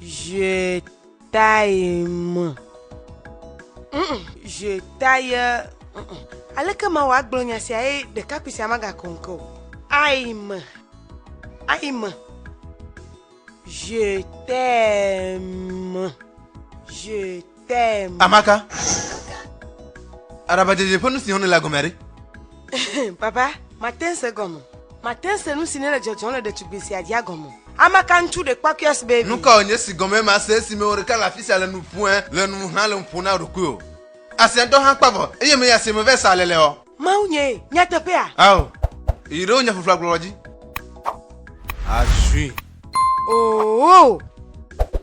Je taille me. Je taille. Aleke ma wɔ agblɔ nya sia ye ɖekakpui sia magakɔ ŋke o. Ayi me. Ayi me. Je t'aime. Je Damn. Amaka. Araba dzedze ƒe nu si xɔnɛ la gɔmea ɖe? Baba, mate se gɔme. Mate se nu si ne le dzɔdzɔm le ɖetugbui sia dzia gɔme. Amaka ŋutsu ɖekpɔkuias baby. Nu kawo nye si gɔmee mase esi me wò ɖeka le afi sia le nu ƒoe le nu ŋu hã le nu ƒom na ɖokuiwò? Asia ŋutɔ hã kpa vɔ eye meyi asie me vɛ sa aleleɔ? Mawunyee, nyateƒea? Ao, yi ɖe wò nya ƒuƒlu agblɔlɔ dzi. Azui. Oo.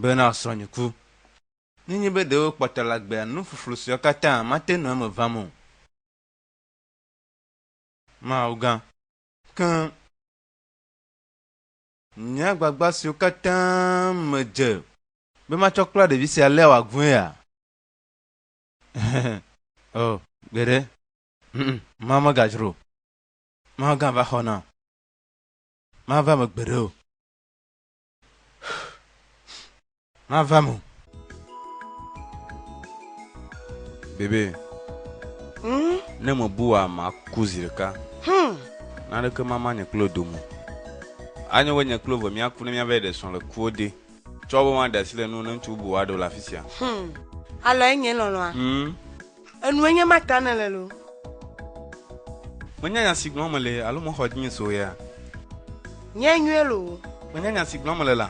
Bena srɔ̃nye ku. Nenye be ɖe wokpɔtɔ la gbea nu ƒuƒlu siawo katã mate nɔ eme vam o. Mawu gã. Keŋ. Nye agbagba siwo katã medze. Be matsɔ kpla ɖevi sia alea wòaguea? O, gbeɖe. Ŋ-ŋ, Mawu megadzro o. Mawu gã va xɔ nam. Mava eme gbeɖe o. Mava mo. Bebe. Hmm? Ne me bua maku zi ɖeka. Hmm. Naneke mama nye kple do mo. Anye be nye kple ve míaku ne míava yi ɖe srɔ̃ le kuwo de. Tsɔ be maɖe asi le nuwò ne ŋutsu bubu aɖewo le afi sia. Hmm. Alɔe nye lɔlɔ̃a. Hmm. Enue nye ma ta nèle loo. Menya nya si gblɔm mele alo mexɔ dzinye so ɣea? Nyae nyuie loo. Menya nya si gblɔm mele la?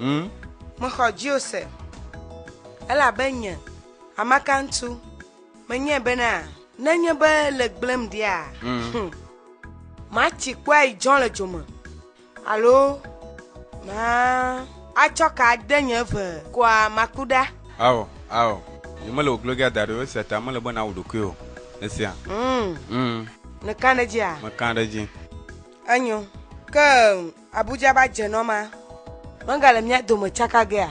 Ŋ. Mexɔ dziwò se. Elabe nye, Amakantu, menyae bena. Nenye be le gblẽm ɖea. Ŋ. Matsi kpɔe dzɔ le dzo me. Alo maatsɔ ka ade nye ʋe koa maku ɖa? Ao, ao. Nye mele wò glogia da ɖi o, esia ta mele be nàwu ɖokuiwò o. Esia. Ŋ. Ŋ. Nèkã ɖe edzia? Mekã ɖe edzi. Enyo. Ke Abuja va dze nɔ ma. Megale mía dome tsaka gea?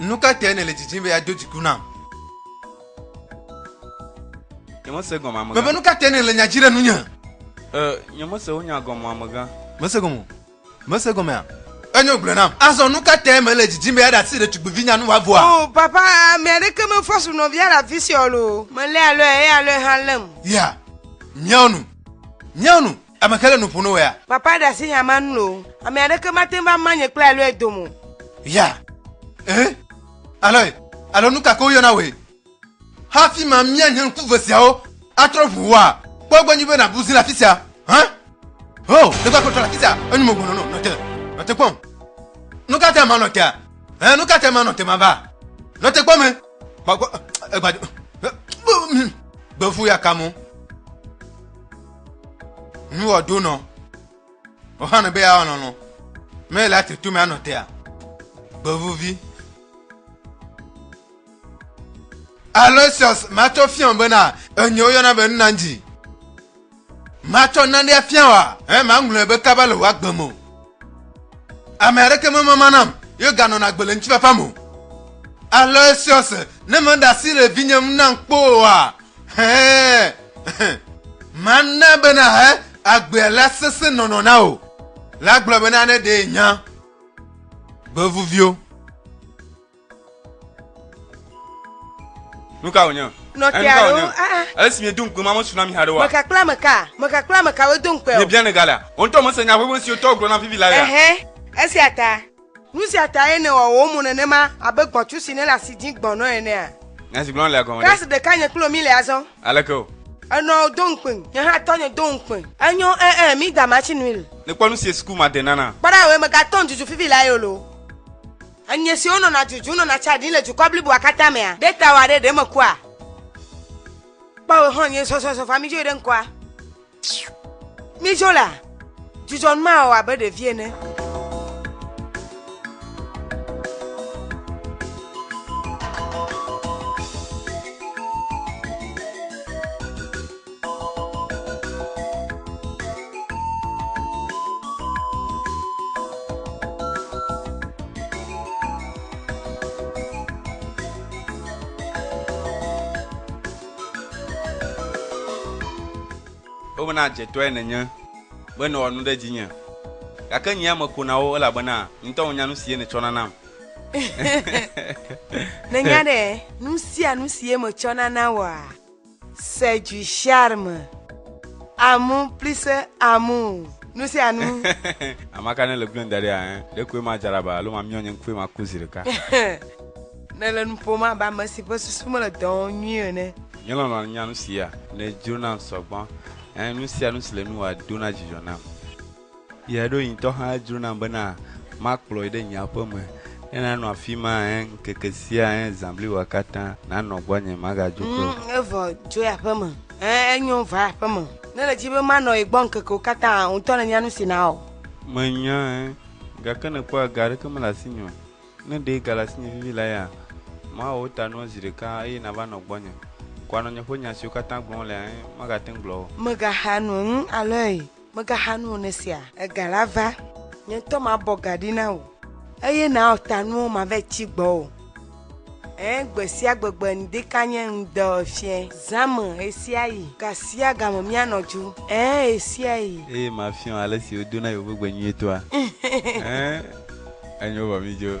Nu ka tae nèle didim be yeado dziku nam? Nyemese gɔme amegã. Mebe nu ka tae nèle nya dzi ɖe nunye? E, nyemese wò nya gɔme amegã. Mese gɔme o. Mese gɔmea? Enyo gblɔe nam. Azɔ nu ka tae mèle didim be yeaɖe asi ɖetugbuivinya nu wòavɔa? O, papa, ame aɖeke mefɔ su nɔvia le afisia o loo. Melé alɔe eye alɔe hã lém. Ya, miawo nu. Miawo nu. Ame ke le nu ƒo no wea? Papa ɖe asi nya ma ŋu o. Ame aɖeke mate ŋu va ma nye kple Aloy dome o. Ya! Ẽ? Aloy, alo nu ka ke woyɔna wòe? Hafi mamia nye ŋku ve siawo atrɔ ŋu wòa, kpɔ egbɔ nyuie be nàbu zi le afi sia. Hã? Ho! Ɖe gbakpɔe trɔ le afi sia. Enyo mo gbɔnɔ no. Nɔ te. Nɔ te kpɔm. Nu ka tae manɔ tea? Ẽ, nu ka tae manɔ te mava? Nɔ te kpɔm. Gbakpɔ. Egbadzo. Gbefu ya ka mo. Nu wɔ do nɔ. Ohanu be ya nɔ nɔ. Me la te to me anɔ tea. Gbevuvi. Aloysius matsɔ fia bena enye woyɔna be nuna dzi. Matsɔ nane afia wa. He maŋlɔe be kaba le wɔ agbe mo. Ame aɖeke memama nam ye ganɔna agbe le ŋutifafa me o. Ale siɔse ne meɖe asi le vinye ŋu nam kpɔ oa? Hɛɛ. Mana be nàhe agbea la sesẽ nɔnɔ na wò. La gblɔ bena ne ɖee nya gbevuviwo. nuka wònye nɔkea ɖo aa ale si miedo ŋukpe ma mesu na mi haɖe wa meka kple ameka meka kple ameka wodo ŋukpe o miebia ne galea wò ŋutɔ mese nya ʋeʋẽ siwo tɔwo gblɔ na vivi la ya ɛhɛ esia ta nu sia tae nèwɔ wò mo nenema abe gbɔ̃tsu si nele asi dzĩ gbɔnɔ enea nya si gblɔm lea gɔme ɖe klasi ɖeka nye kple mi le azɔ aleke o enɔ do ŋukpe nye hã tɔnye do ŋukpe enyo ɛɛ mi da matsi nui l nekpɔ nu sie suku ma de nana kpɔ ɖa wòe megatɔ ŋdzuzu vivi la yolo Enye siwo nɔna dzudzum nɔna tsa ɖim le dukɔ bliboa katã mea? Ɖe tawòa ɖe ɖe mekua? Kpɔ wò xlɔ̃ nyuie sɔsɔsɔ vaa mídzo yi ɖe ŋkɔa. Mídzo la, dzudzɔ nu ma wɔ abe ɖevi ene. Womena dzetɔe nènye be nèwɔ nu ɖe dzinye, gake nye ya meko na wo, elabena ŋutɔ wònya nu si ye nètsɔna nam. Nènya ɖe nu sia nu si ye metsɔna na wòa? C'est du charme. Amour plus amour. Nu sia nu. Amaka ne le gblẽ da ɖi hein. Ɖe koe ma dzaraba alo ma miɔ nye ŋkue ma ku zi ɖeka. Ne le nu ƒom abe ame si ƒe susu mele dɔ wɔm nyuie ene. Nye lɔlɔ̃ nya nu sia. Ne dzro nam sɔgbɔ. Hein nu sia nu si le nu wa dona dzidzɔ nam. Ye ɖo ŋutɔ hã edzro nam bena makplɔ yi ɖe nye aƒe me, ne nanɔ afi ma ŋkeke sia zã bliboa katã, nanɔ gbɔnye, magadzo ke o. Evɔ dzo yi aƒe me. Ẽ, enyo, va yi aƒe me. Ne nèdi be manɔ ye gbɔ ŋkekewo katã hã, wò ŋutɔ nènya nu si nawɔ. Menya, ẽ, gake nèkpɔa, ga aɖeke mele asinye o. Ne ɖee gale asinye vivi la ya, mawɔ wo ta nuɔ zi ɖeka eye nàva nɔ gbɔnye. Ko anɔ nye ƒe nya siwo katã gblɔm wolea, ẽ, magate ŋu gblɔ wo. Mègaxa nu ŋu alɔe. Mègaxa nu o ne esia. Ega la va. Nye ŋutɔ mabɔ ga ɖi na wò. Eye nàwɔ ta nuwo mave tsi gbɔwò. Ẽ, gbesiagbe gbe ŋdika nye ŋde ɔfiɛ. Zã me ɣesiaɣi. Gasiagame míanɔ dzu. Ẽ, ɣesiaɣi. Eye mafiɔ alesi wodona yewo ƒe gbe nyuie toa. Ẽ, enyo vɔ mídzo.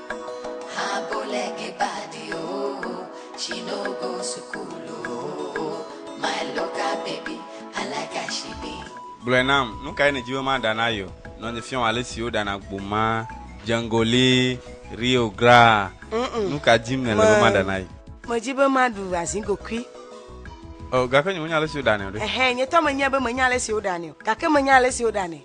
Gblɔe nam, Nu kae nèdi be maɖa na yeɔ? Nɔ nye fiɔm ale si woɖana gboma, djengoli, Rio Graa. Nu ka dim nèle be maɖa na ye? Medi be maɖu azigokui. O, gake nye menya ale si woɖanɛ o ɖe. Ɛhɛ, nye tɔ menyae be menya ale si woɖanɛ o, gake menya ale si woɖanɛ.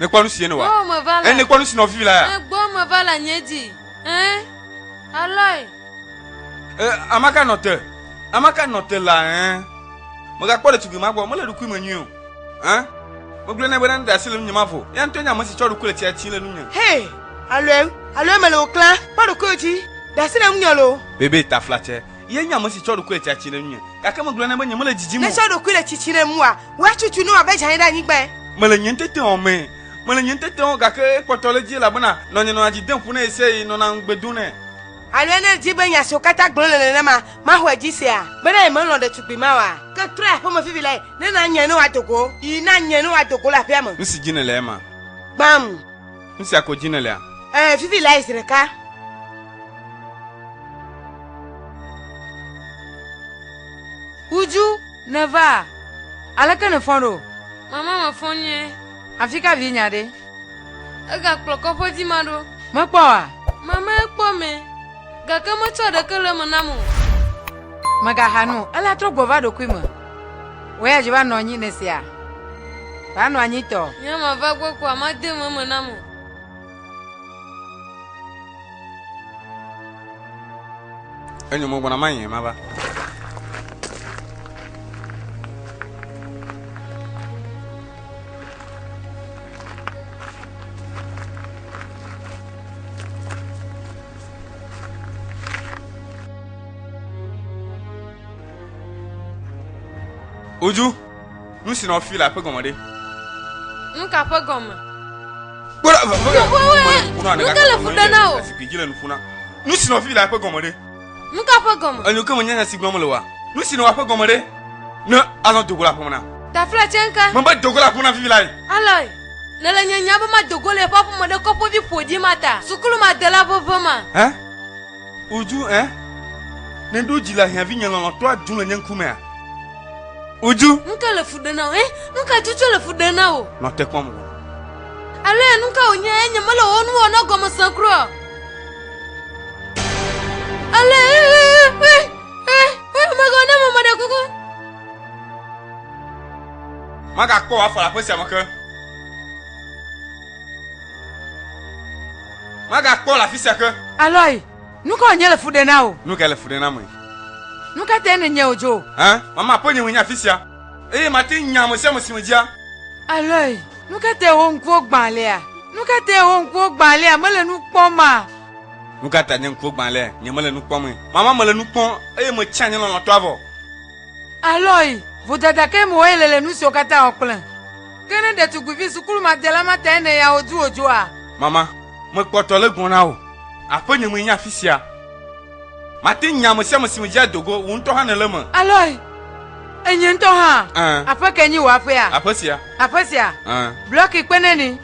Ne kpɔ nu si yen wa. Gbɔ me va la. Ne kpɔ nu si nɔvi la ya. Gbɔ me va la nye dzi. Ɛn. Alɔe. Ɛ amaka nɔ te. Amaka nɔ te la ɛn. Megakpɔ ɖetugbui ma gbɔ. Mele ɖukui me nyuie o. Ɛn. Megblɔ ne be ne ɖasi le nunye ma vɔ. Ya ŋutɔ nye ame si tsɔ ɖukui le tsia tsi le nunye. Hey. Alɔe. Alɔe mele wò klã. Kpɔ ɖokuiwò dzi. Ɖasi le nunye lo. Bebe taflatsɛ. Ye nye ame si tsɔ ɖokui le tsiatsi ɖe ŋunye, gake megblɔ nɛ be nyemele didim o. Netsɔ ɖokui le tsitsi ɖe ŋua, wua tutu ne wòabe dzãe ɖe anyigbae. Mele nye ŋuteteawo mee. Mele nye ŋuteteawo, gake ekpɔtɔ ɖe edzi, elabena nɔnye nɔna dzi dem ƒo ne yese eye nɔna ŋugbe dom nɛ. Alea ne èdi be nya siwo katã gblɔm le nenema maxɔe dzi sea? Bena yemelɔ̃ ɖetugbui ma oa? Ke trɔe aƒeme vivilae, ne nànyae ne wòado go. Yi, nànyae ne wòado go le aƒea me. Nu si dim nèle ema. Gbãm. Nu sia ko dzi nèlea? Ẽ, vivi lae zi ɖeka. Uju, nèva? Aleke nèfɔ̃ ɖo? Mama, mefɔ̃ nyuie. Afi ka vinye aɖe? Egakplɔ kɔƒe dzi ma ɖo. Mekpɔ oa? Mama, ekpɔ mɛ, gake metsɔ ɖeke le eme nam o. Mègaxa nu o, ele atrɔ gbɔ va ɖokui me. Wò ya dzi va nɔ anyi nèsea? Va nɔ anyi tɔ. Nye ma va gbɔ kpɔa, ma de me me na mo. Enyo mo gbɔna ma yɛ ma va. Oju, nu si nɔ fi la ƒe gɔme ɖe? Nu ka ƒe gɔme? Kpɔɖa, nu ka le fu ɖe na o? Zikpui dzi le nu ƒu na. Nu si nɔ fi la ƒe gɔme ɖe? Nu ka ƒe gɔme? Enyo ke menyanya si gblɔm le wa. Nu si nɔ wa ƒe gɔme ɖe? Ne alɔ dogo la ƒom na. Tafla tse ŋke. Mebe dogo la ƒom na vivi lae. Alɔe. Ne le nye nya be madogo le eƒe aƒeme ɖe kɔƒevi ƒoɖi ma ta, sukulu ma de la veve ma. Hã? Uju, ẽ? Nèɖo dzi le ahiã vinye lɔlɔ̃tɔ adzum le nye ŋkumea? Uju. Nu ka le fu ɖem na wò, ẽ? Nu ka tsotso le fu ɖem na wò? Nɔ te kpɔm wò. Alo ya nu ka wònye, ẽ? Nyemele wò nu wɔna gɔme sem kura o. Ale, ẽ, ẽ, ẽ, ẽ, ẽ, megawɔ na ame meɖe kuku. Magakpɔ wò afɔ le aƒe sia me ke. Magakpɔ le afi sia ke. Alɔi, nu kae wònye le fu ɖe na wò? Nu kae le fu ɖe na ame? Nu ka tae nènye wòdzo? Hã? Mama ƒe nye menye afi sia, eye mate ŋu nya ame sia ame si medzia. Alɔi, nu ka tae wò ŋkuwo gbã alea? Nu ka tae wò ŋkuwo gbã alea? Mele nu kpɔma? Nu ka tae nye ŋkuwo gbã alea? Nye mele nu kpɔmee. Mama mele nu kpɔm, eye metsã nye lɔlɔ̃tɔa vɔ. Alɔi, vodada kae mewɔ ye le le nu siwo katã wɔ kplem? Ke ne ɖetugbuivi sukurumadela ma tae nèya wò du wòdzoa? Mama, mekpɔtɔ le gbɔna o. Aƒenye mee nye afi sia. Mate ŋu nye ame sia ame si medzea do go, wò ŋutɔ hã nèle eme. Aloy, Enye ŋutɔ hã. Ɛ̃. Aƒe kae nye wò aƒea? Aƒe sia. Aƒe sia? Ɛ̃. Blɔki kpe ne ni.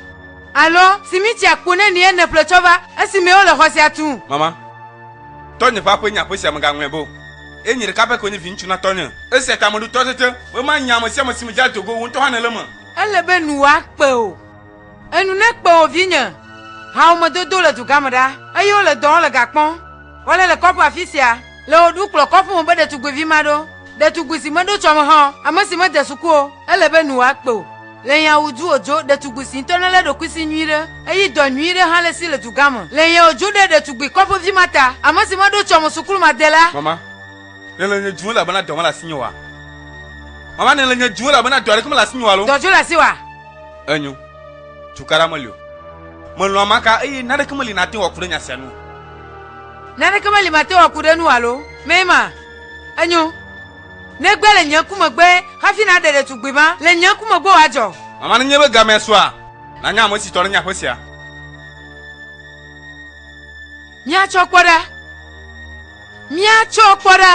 Alo, simiti akpo ne nie nèƒle tsɔ va, esimee wole xɔ sia tum? Mama, tɔnye ƒe aƒee nye aƒe sia, mègaŋlɔe be o. Eye nye ɖeka pɛ koe nye viŋutsu na tɔnye. Esia ta meɖo to tete be manya ame sia ame si medzra do go, wò ŋutɔ hã nèle eme. Ele be nu woakpe wò. Enu nekpe wò, vinye. Hawomedodo le dugã me ɖa, eye wole dɔ wɔm le gakpɔ wɔle le kɔƒe afisia. Le wò ɖu kplɔ kɔƒe me be ɖetugbivi maɖo, ɖetugbui si meɖo tsɔ me hã o, ame si mede suku o, ele be nu woakpe wò. Le yao duo djo ɖetugbi si ŋtɔ nele ɖokui si nyui ɖe, eyi dɔ nyui ɖe hã le si le duga me. Le yao djo ɖe ɖetugbi kɔƒe vi ma ta, ame si meɖo tsɔ me sukulu ma de la. Mama, ne le nye djo elabena dɔ mele asi nye oa? Mama, ne le nye djo elabena dɔ aɖeke mele asi nye oa lo? Dɔ djo le asi oa? Enyo, tukaɖa meli o. Melɔ̃ amaka eye naneke meli nate ŋu aku ɖe nya sia nu o. Naneke meli mate ŋu aku ɖe enu oa lo? Mema. Enyo. Negbe le nye ŋku megbe hafi naɖe ɖetugbui ma le nye ŋku megbe wòadzɔ. Mama nenye be gamea sua, nànya ame si tɔ nenye aƒe sia. Míatsɔ kpɔ ɖa. Míatsɔ kpɔ ɖa.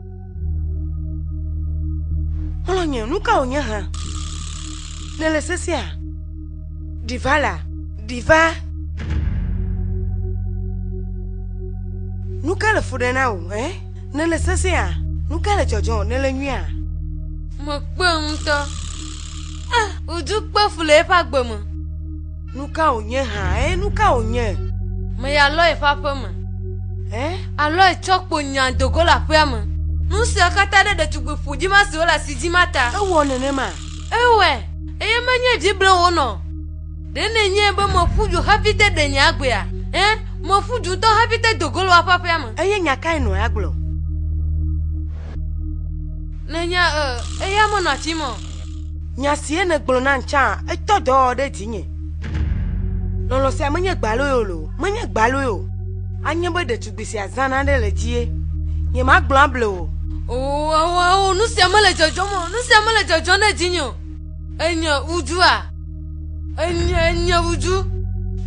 Xlɔ̃nye, nu ka wònye hã? Nèle sesea? Ɖi va la, ɖi va. Nu ka le fu ɖe na wò, ɛ? Nèle sesea? Nu ka le dzɔdzɔ? Nèle nyuia? Mekpɔe ŋutɔ. Ah, wòdu kpe fu le eƒe agbe me. Nu ka wònye hã? Ẽ, nu ka wònye? Me ya lɔ yeƒe aƒe me. Ẽ, alɔ ye tsɔ kpo nya do go le aƒea me. Nu sia katã ɖe ɖetugbui ƒoɖi ma siwo le asi dzim ma ta. Ewɔ nenema. Ewɔe, eye menye vi blem wònɔ o. Ɖe nenyae be meƒu du hafi te ɖe nye agbea? Ẽ, meƒu du ŋutɔ hafi te do go le woaƒe aƒea me. Eye nya kae nɔa agblɔ? Nenya ẽ, eya menɔ afi ma o. Nya sie nègblɔ nam tsã, etɔ dɔ ɖe dzinye. Lɔlɔ̃ sia menye gbaloe o loo, menye gbaloe o. Anye be ɖetugbui sia zã nane le dzie. Nyemagblɔ able o. Oo, oo, oo, nu sia mele dzɔdzɔm o, nu sia mele dzɔdzɔm ɖe dzinye o. Enye ŋudzua? Enye, enye ŋudzu?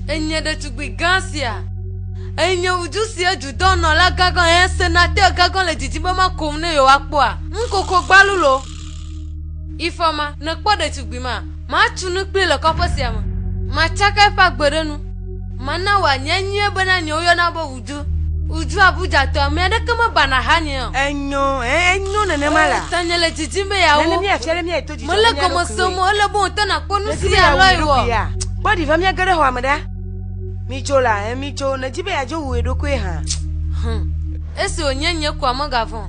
Enye ɖetugbui gã sia? Enye ŋudzu si edu dɔnɔlagã gã, hẽ, senatɛ gã gã le didim be makom ne yewoakpɔa? Ŋu koko gbalu loo. Ifɔma, nèkpɔ ɖetugbui ma? Matu nu kplii le kɔƒe sia me. Matsaka eƒe agbe ɖe nu. Mana wòanye enyuie bena nye woyɔna be Udu. Udu Abuja-tɔ, ame aɖeke mebana ahanye o. Enyo, ẽ, enyo nenema la. Oo, tanye le didim be yeawo. Nene míafia be míayi to dzidzɔ na mía ɖokuiwoe. Mele gɔme sem o, ele be wòte nàkpɔ nu si ya lɔe wɔ. Kpɔ ɖi va míage ɖe xɔa me ɖa. Midzo la, ẽ, midzo, nèdi be yeadzo wu wò ɖokui hã. Hum, esi wònye nye koa megavɔ̃ o.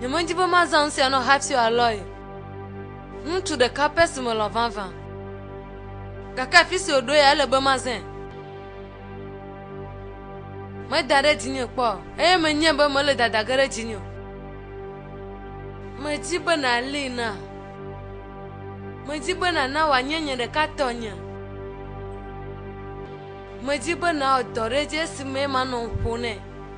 Nyemedi be mazã nu sia nɔ Hypsio Aloy, ŋutsu ɖeka pɛ si melɔ̃ vavã. Gake afi si wòɖo ya, ele be mazãe. Meda ɖe dzinye kpɔ o, eye menyae be mele dada ge ɖe dzinye o. Medi be nàlée nam. Medi be nàna wòanye nye ɖeka tɔnye. Medi be nàwɔ dɔ ɖe edzi esimee manɔ ŋu ƒo nɛ.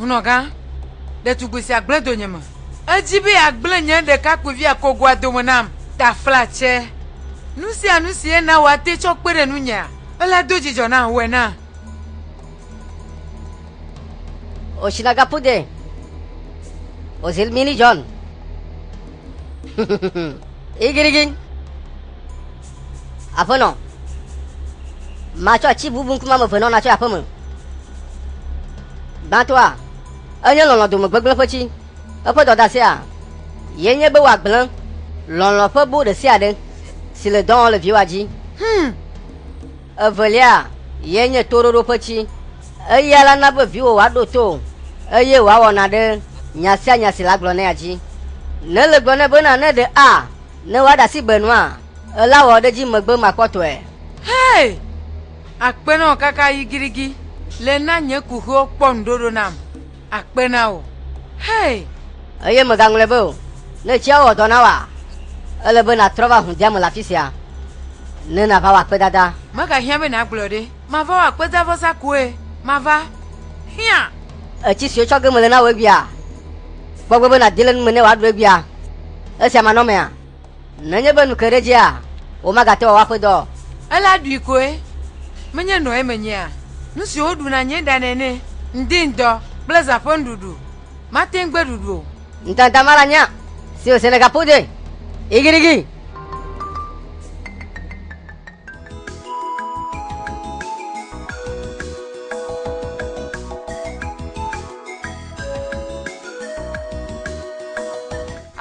Ŋunɔgã, Ɖetugbui sia gblẽ donyeme. Edi be yeagblẽ nye ɖekakpuivia kogoa dome nam. Taflatse, Nu sia nu si ena wòate tsɔ kpe ɖe nunyea, ela do dzidzɔ nam, wɔe nam. Oshinagapude, Ozil Millie John, Igirigin. Aƒenɔ, matsɔ atsi bubu ŋkume ame eve nɔ natsɔ yi aƒeme. Gbãtɔa, enye lɔlɔ̃ dome gbegblẽ ƒe tsi. Eƒe dɔdasea ye nye be wòagblẽ lɔlɔ̃ ƒe bo ɖe sia ɖe si le dɔ wɔm le viwòa dzi. Hum! Evelia ye nye toɖoɖo ƒe tsi. Eya la na be viwò wòaɖo to eye wòawɔ na ɖe nya sia nya si le agblɔ nɛa dzi. Ne le gblɔ nɛ bena ne ɖe a. Ne woaɖe asi gbe nua, ela wɔ ɖe edzi megbe makpɔtɔe. Hey! Akpe na wò kaka yigirigi le na nye kuxiwo kpɔ ŋuɖoɖo nam. Akpe na wò. Hey! Eye mègaŋlɔe be o. Ne tsia wɔ dɔ na wòa, ele be nàtrɔ va hu dea me le afi sia ne nàva wɔ akpedada. Megahiã be nàgblɔe ɖe. Mava wɔ akpedavɔsa koe. Mava. Hiã! Etsi si wotsɔ ge mele na wò egbea? Kpɔ egbɔ be nàdi le nu me ne wòaɖu egbea. Esia manɔ emea? Nenye be nu ke ɖe edzia, womagate wòawɔ eƒe dɔ o. Ele aɖui koe. Menye nɔe menyea? Nu si woɖu na nye ɖa nene, ŋdi ŋdɔ kple zã ƒe nuɖuɖu. Mate ŋu gbe ɖuɖu o. Ŋutanta mala nya si wòse le gaƒodoe. Igirigi!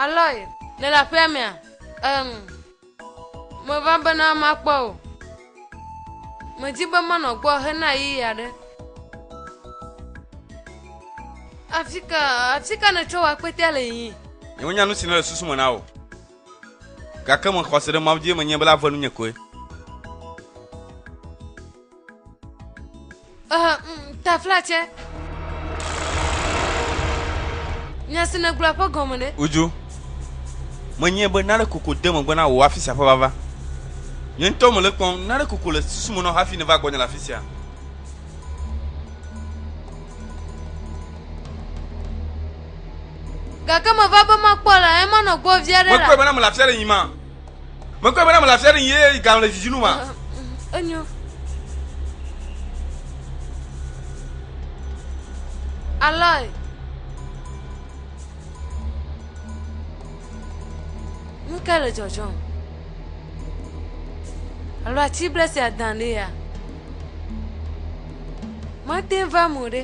Aloy, le le aƒea mea? Eŋ, meva bena makpɔ o. Medi be manɔ gbɔ hena ɣeyiɣi aɖe. Afi ka, afi ka nètrɔ wò akpetea le yiyim? Nyewonya nu si nele susu me na wò. Gake me xɔse ɖe Mawu dzi eme nye be la ve nunye koe. Ehe, mm, tafla tse. Nya si nègblɔ ƒe gɔme ne? Uju. Menye be nane koko de megbe na wò afi sia ƒe vava. Nye ŋutɔ mele kpɔm, nane koko le susu me nɔ hafi nèva gbɔnye le afi sia. Gake meva be makpɔ le eye manɔ gbɔ vi aɖe la. Mekpɔe bena mele afi aɖe yim ma. Mekpɔe bena mele afi aɖe yim eye galɔn le dzidzi nu ma. Enyo. Aloy. Nu ka le dzɔdzɔm? Alo ati ble sia dan ɖe ya? Mate va mo ɖe.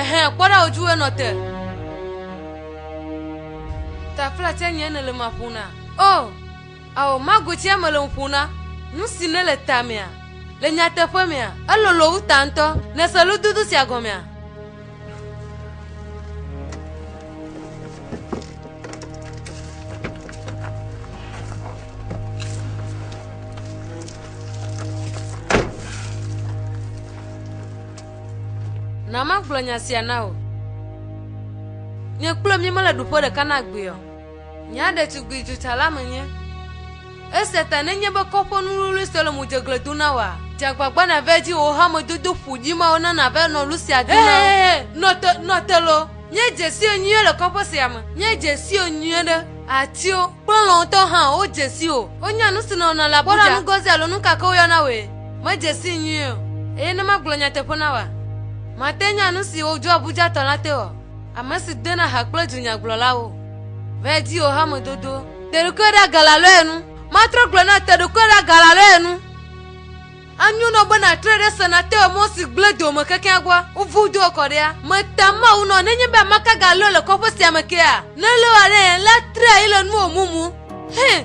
Ehe, kpɔ ɖa wòdzi wòe nɔ te. Tafla tse nye nèle ma ƒona. O, ao, mago tse mele ŋu ƒona. Nu si nele tamea, le nyateƒe mea, elolo wu ta ŋutɔ. Nèse lododo sia gɔmea? Na magblɔ nya sia na wò. Nye kple mi mele ɖuƒe ɖeka na gbea o. Nya ɖetugbui dzotsala menye. Esia ta nenye be kɔƒe nuwluiwlui sue le mo dze gle do na wòa? Dze agbagba nàva edzi wò hamedodo ƒo ɖi mawo na nàva nɔ lu sia do na wo. Hehehe, nɔ te, nɔ te loo. Nye dzesiwo nyuie le kɔƒe sia me. Nye dzesiwo nyuie ɖe. Atiwo kple lɔ̃ ŋutɔ hã wo dzesi o. Wonya nu si nɔna le Abuja. Kpɔ ɖa nu gɔze alo nu ka ke woyɔna wòe. Medze sii nyuie o. Eye ne magblɔ nyateƒe na wòa? Mate ŋu anya nu si wodzro Abujatɔ la te oa? Ame si dena ha kple dunyagblɔlawo. Vɛ di o hamedodo. Teɖokuie ɖa galalɔe nu. Matrɔ gblɔ na teɖokuie ɖa galalɔe nu. Anyo nɔ be na tre ɖe se na tewe mɔ si gble dome kekeŋ gbɔ. Uvu do kɔ ɖea. Me ta Mawu nɔ nenye be amaka galɔe le kɔƒe sia me kea. Ne le wa ɖe yɛn la tre ayi le nuwo mumu. Hɛn.